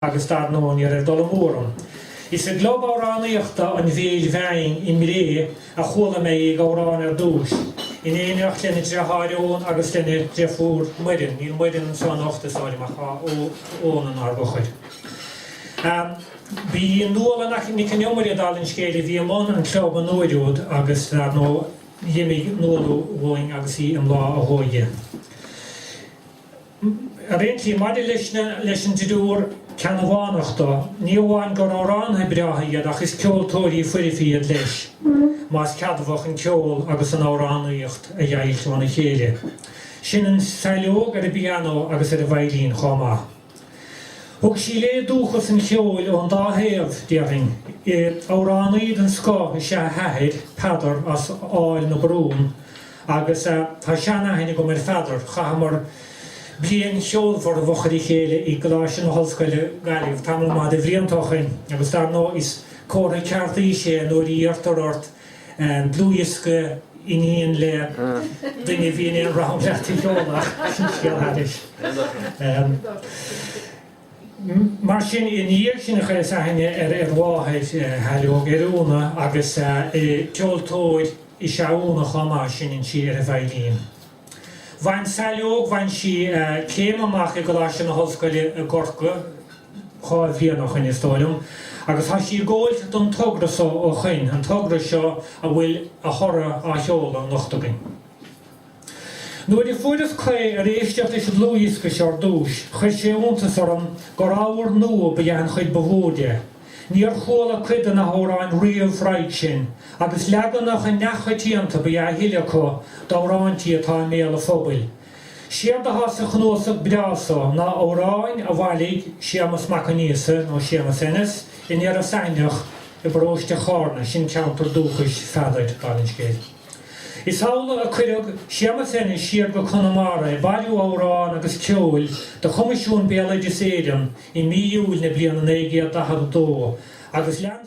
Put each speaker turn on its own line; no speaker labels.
agus dar ndóigh ní raibh dul amú orm. Is i gClub Amhránaíochta an Bhéil Bhinn i mBré a chuala mé í ag amhrán ar dtús, in éineacht lena driotháir Eoghan agus lena deirfiúr Muireann, níl Muireann anseo anocht is dóigh liom ach tá Eoghan inár bhfochair. Ba í Nuala Nic an Iomaire, dála an scéil, a bhí i mbun an Chlub an uair úd agus dar ndóigh d'imigh Nuala uainn agus í i mbláth a hóige. Ar aon tslí, maidir leis an dtriúr Ceannabhánach so, ní amháin gur amhránaithe breátha iad ach is ceoltóirí foirfe iad leis, más ceadmhach an ceol agus an amhránaíocht a dheighilt óna chéile. Seinneann Saileog ar an bpianó agus ar an veidhlín chomh maith. Thug sí léi dúchas an cheoil ón dá thaobh, déarfainn. Amhránaí den scoth is ea a hathair, Peadar, as Aill na Brún, Agus tá sean-aithne agam ar Pheadar, chaitheamar bliain cheolmhar i bhfochair a chéile i gColáiste na hOllscoile, Gaillimh, tamall maith de bhlianta ó shoin, agus dar ndóigh is comhartha ceart aois é nuair a iarrtar ort dlúthdhiosca iníon le duine a bhí in aon rang leat a sheoladh, ach sin scéal thairis. Mar sin, i ndiaidh sin chuireas aithne ar mháthair Shaileog, ar Úna, agus ceoltóir is ea Úna chomh maith, seinneann sí ar an veidhlín. Bhain Saileog, bhain sí céim amach i gColáiste na hOllscoile i gCorcaigh, dhá bhliain ó shoin is dóigh liom, agus tá sí ag gabháilt don togra so ó shoin, an togra seo a bhfuil a thoradh á sheoladh anocht againn. Nuair a fuaireas caoi ar éisteacht leis an dlúthdhiosca seo ar dtúis, chuir sé iontas orm gur ábhar nua ba ea an chuid ba mhó de. Níor chuala cuid de na hamhráin riamh roimhe sin, agus leaganacha neamhchoitianta ba ea a thuilleadh acu d'amhráintí atá i mbéal an phobail. Séard athá sa chnuasach breá so ná amhráin a bhailigh Séamas Mac Aonghusa, nó Séamas Ennis, in Iorras Aithneach i bparóiste Charna, sin ceantar dúchais Pheadair, dála an scéil. Is amhlaidh a cuireadh Séamus Ennis siar go Conamara ag bailiú amhrán agus ceoil do Choimisiún Béaloideas Éireann i mí Iúil na bliana 1942 agus lean